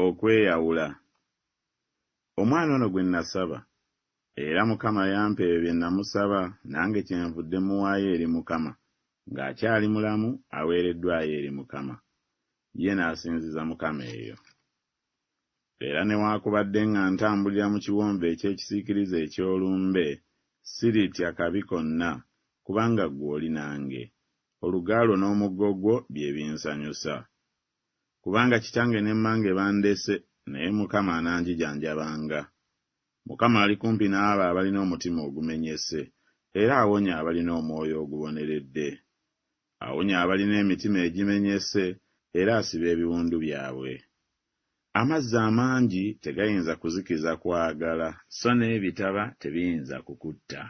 okweyawula. Omwana ono gwe nasaba era Mukama yampa ebyo bye namusaba nange kyenvudde muwaayo eri Mukama ng'akyali mulamu aweereddwayo eri Mukama. Ye n'asinziza Mukama eyo. Era newaakubadde nga ntambulira mu kiwonvu eky'ekisiikirize eky'olumbe, siritya kabi konna, kubanga ggwe oli nange. Oluga lwo n'omuggo gwo bye binsanyusa. Kubanga kitange ne mmange bandese, naye Mukama ananjijanjabanga. Mukama ali kumpi n'abo abalina omutima ogumenyese, era awonya abalina omwoyo oguboneredde. Awonya abalina emitima egimenyese era asiba ebiwundu byabwe. Amazzi amangi tegayinza kuzikiza kwagala. So n'ebitaba tebiyinza kukutta.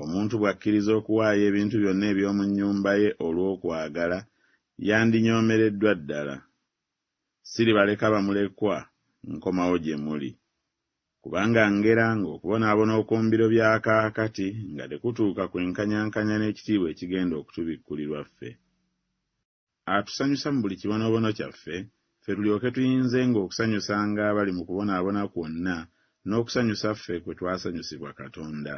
Omuntu bw'akkiriza okuwaayo ebintu byonna eby'omu nnyumba ye olw'okwagala, yandinyoomereddwa ddala. Siribaleka bamulekwa, nkomawo gye muli. Kubanga ngera ng'okubonaabona okw'ombiro bya kaakati nga tekutuuka kwenkanyankanya n'ekitiibwa ekigenda okutubikkulirwa ffe Atusanyusa mu buli kibonoobono kyaffe, ffe tulyoke tuyinzenga okusanyusanga abali mu kubonaabona kwonna n'okusanyusa ffe kwe twasanyusibwa Katonda.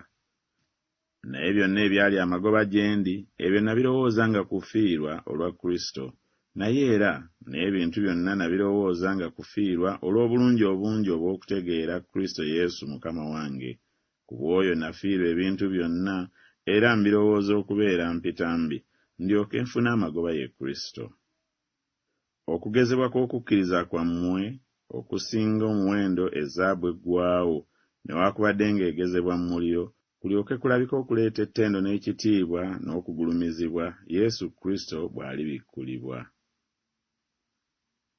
Naye byonna ebyali amagoba gye ndi, ebyo nabirowooza nga kufiirwa olwa Kristo, naye era n'ebintu byonna nabirowooza nga kufiirwa olw'obulungi obungi obw'okutegeera Kristo Yesu Mukama wange. Ku bw'oyo nafiirwa ebintu byonna, era mbirowooza okubeera mpitambi, ndyoke nfune amagoba ye Kristo. Okugezebwa kw'okukkiriza kwammwe okusinga omuwendo ezzaabu eggwaawo, newakubadde ng'egezebwa mu muliro, kulyoke kulabike okuleeta ettendo n'ekitiibwa n'okugulumizibwa Yesu Kristo bw'alibikkulibwa.